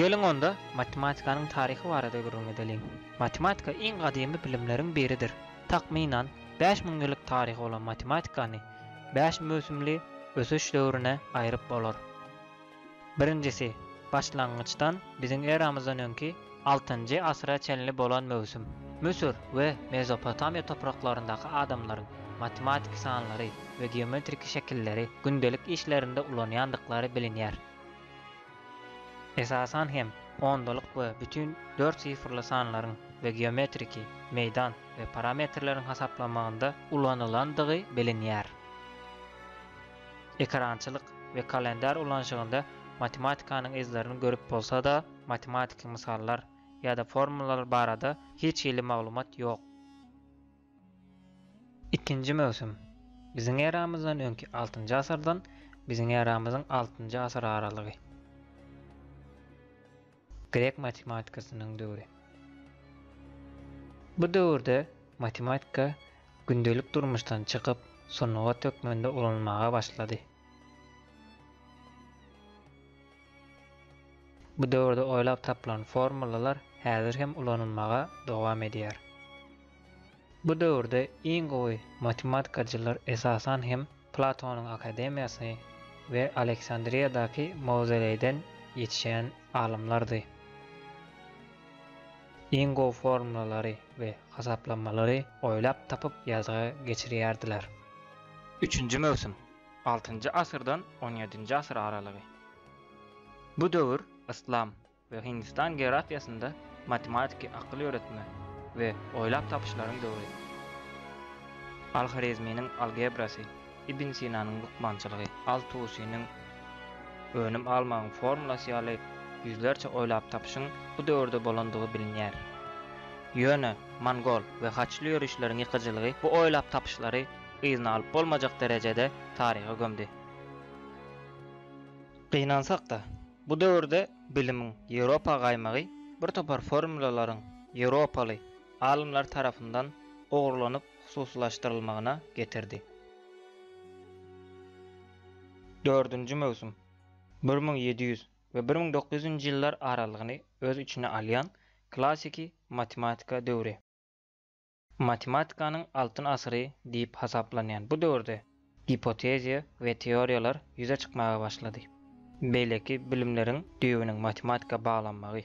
Geliň onda, matematikanyň taryhy barada gürrüň edeliň. Matematika iň gadymy bilimleriň biridir. Takmynan, bäş müň ýyllyk taryhy bolan matematikany bäş möwsümli ösüş döwrüne aýryp bolar. Birinjisi, başlangyçdan, biziň eramyzdan öňki, Altynjy asyra çenli bolan möwsüm Müsür we Mezopotamiýa topraklaryndaky adamlaryň matematiki sanlary we geometriki şekilleri gündelik işlerinde ulanýandyklary bilinýär. Esasan hem ondalyk we bütin dört sifrly sanlaryň we geometriki, meýdan we parametrleriň hasaplamagynda ulanylandygy bilinýär. Ekerançylyk we kalendar ulanyşygynda matematikanyň yzlaryny görüp bolsa-da, matematiki mysallar ýa-da formulalar barada hiç hili maglumat ýok. Ikinji möwsüm, Biziň eramyzdan öňki altynjy asyrdan biziň eramyzyň altynjy asyr aralygy. Grek matematikasynyň döwri. Bu döwürde matematika gündelik durmuşdan çykyp, sungat hökmünde ulanylmaga başlady. Bu döwürde oýlap tapylan formulalar häzir hem ulanylmaga dowam edýär. Bu döwürde iň gowy matematikaçylar esasan hem Platonyň akademiýasy we Aleksandriýadaky mawzoleýden ýetişen alymlardy. Iň gowy formulary we hasaplamalary oýlap tapyp ýazga geçirýärdiler. Üçünji möwsüm. Altynjy asyrdan on ýedinji asyr aralygy. Bu döwür yslam we Hindistan geografiýasynda matematiki akyl ýöretme we oýlap tapyşlaryň döwri. Al-Horezminiň algebrasy, Ibn Sinanyň lukmançylygy, Al-Tusiniň önüm almagyň formulasy ýaly ýüzlerçe oýlap tapyşyň bu döwürde bolandygy bilinýär. Ýöne mongol we haçly ýörişleriň ýykyjylygy bu oýlap tapyşlary yzyny alyp bolmajak derejede taryha gömdi. Gynansak-da, bu döwürde bilimiň Ýewropa gaýmagy bir topar formulalaryň ýewropaly alymlar tarapyndan ogurlanyp hususylaşdyrylmagyna getirdi. Dördünji möwsüm bir müň ýedi ýüz we bir müň dokuz ýüzünji ýyllar aralygyny öz içine alýan klassyky matematika döwri. Matematikanyň altyn asyry diýip hasaplanýan bu döwürde gipoteziýa we teoriýalar ýüze çykmaga başlady. Beýleki bilimleriň düýbüniň matematika baglanmagy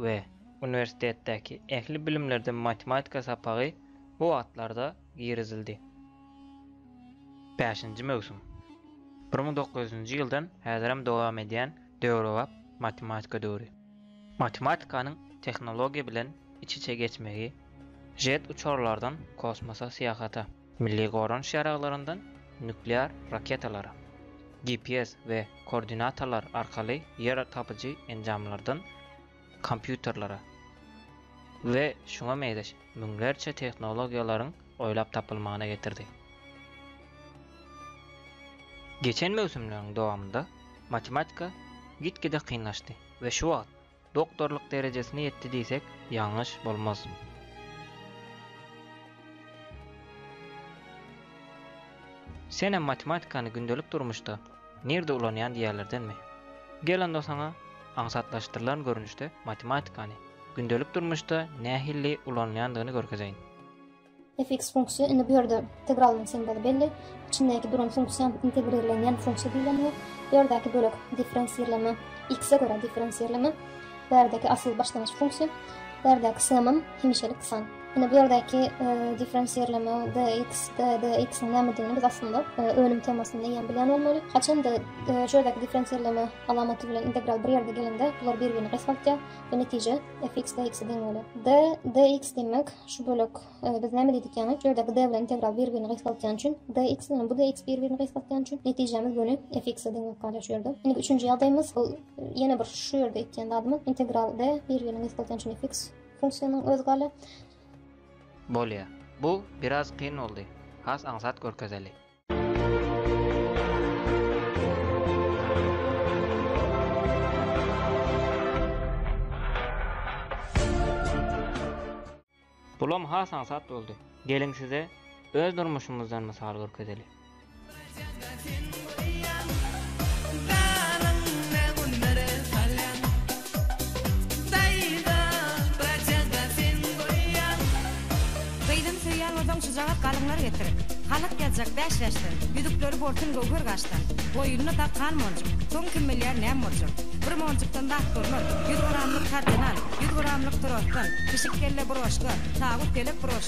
we uniwersitetdäki ähli bilimlerde matematika sapagy bu wagtlarda girizildi. Bäşinji möwsüm. Bir müň dokuz ýüzünji ýyldan häzirem dowam edýän döwrebap matematika döwri. Matematikanyň tehnologiýa bilen iç-içe geçmegi, jet uçarlardan kosmosa syýahata, milli goranyş ýaraglaryndan nuklear raketalara, GPS we koordinatalar arkaly ýer tapyjy enjamlardan kompýuterlere we şuňa meňzeş müňlerçe tehnologiýalaryň oýlap tapylmagyna getirdi. Geçen möwsümleriň dowamynda matematika git-gide kynlaşdy we şu wagt doktorlyk derejesine ýetdi diýsek ýalňyş bolmaz. Senem matematikany gündelik durmuşda Nirde ulanýan diýýärlerdenmi? Gel onda saňa aňsatlaşdyrylan görnüşde matematikany, gündelik durmuşda nähilli ulanylýandygyny görkezeýin. Fx funksiýa, indi bu ýerde integralyň simwoly belli, içindäki duran funksiýam integrirlenýän funksiýa diýlenýär. Bu ýerdäki bölek differensirleme, x-e görä differensirleme, bärdäki asyl başlangyç funksiýa, bärdäki sm-am hemişelik san. Indi bu ýerdäki differensirleme dx, dx-iň nämedigini biz aslynda önüm temasynda ýa bilen bolmaly. Haçanda şu ýerdäki differensirleme alamaty bilen integral bir ýerde gelende, bular bir-birini gysgaltýar we netije fx dx-e deň bolýar. D, dx diýmek şu bölek biz näme diýdik ýaňy? Şu ýerdäki d bilen integral bir-birini gysgaltýan üçin dx bilen bu dx bir-birini gysgaltýan üçin netijämiz göni fx-e deň bolup galýar şu ýerde. Indi üçünji ýagdaýymyz bu ýene bir şu ýerde etýän zadymyz integral d bir-birini gysgaltýan üçin fx Funksiýanyň özi galy. Bolýa. Bu biraz kyn boldy. Has aňsat görkezeli. Bulam has aňsat boldy. Geliň size öz durmuşymyzdan mysal görkezeli. Gyzym söýýän bolsaň çyjagak galyňlar getir, Halak ýazjak bäş bäşden, Ýüzükleri borsun göwher gaşdan. Boýnuna dakkan monjuk, Soň kim bilýär näm boljak. Bir monjukdan zat bolmaz, Ýüz gramlyk kardinan, Ýüz gramlyk trosdan, Pişik kelle broşka, Tagut pelek broşka.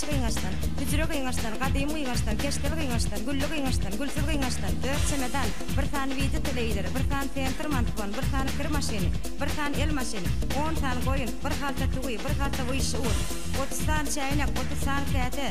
Gyňaçdan, hüjre gyňaçdan, Gadym gyňaçdan, keşdeli gyňaçdan, Gülli gyňaçdan, gülsüz gyňaçdan, Dört çemedan, bir sany wide teleýzeri, Bir sany tentir mantbon, Bir sany kir maşyny, Bir sany el maşyny, On sany goýun, Bir halta tüwi, Bir halta wyşşy un, Otuz sany çäýnek, Otuz sany käse,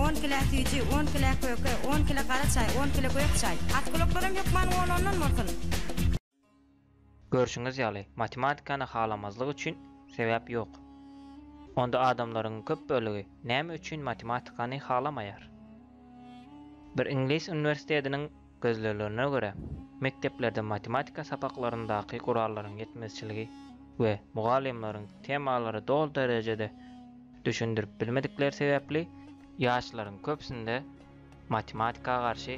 On kile süýji, On kile köke, On kile gara çaý, On kile gök çaý, At gulaklarym hökman on-ondan bolsun! Görşüňiz ýaly, matematikany halamazlyk üçin sebäp ýok. Onda adamlaryň köp bölegi näme üçin matematikany halamaýar? Bir iňlis uniwersitetiniň gözleglerine görä, mekdeplerde matematika sapaklaryndaky gurallaryň ýetmezçiligi we mugallymlaryň temalary doly derejede düşündirip bilmedikleri sebäpli, ýaşlaryň köpüsinde matematika garşy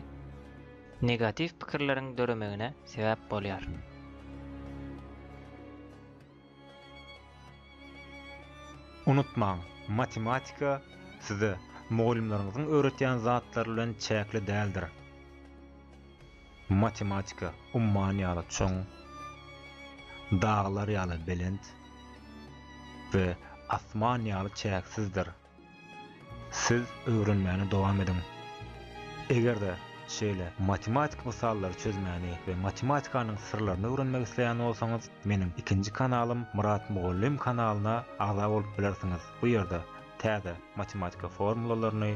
negatiw pikirleriň döremegine sebäp bolýar. Unutmaň, matematika size mugallymlaryňyzyň öwretýän zatlary bilen çäkli däldir. Matematika umman ýaly çuň, daglar ýaly belent we asman ýaly çäksizdir. Siz öwrenmäni dowam ediň. Eger-de şeýle matematik mysallary çözmäni we matematikanyň syrlaryny öwrenmek isleýän bolsaňyz, meniň ikinji kanalym Myrat Mugallym kanalyna agza bolup bilersiňiz. Bu ýerde täze matematika formulalaryny,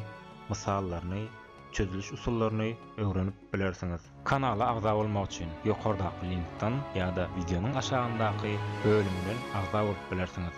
mysallaryny, çözüliş usullaryny öwrenip bilersiňiz. Kanala agza bolmak üçin ýokardaky linkden ýa-da wideonyň aşagyndaky bölümden agza bolup bilersiňiz.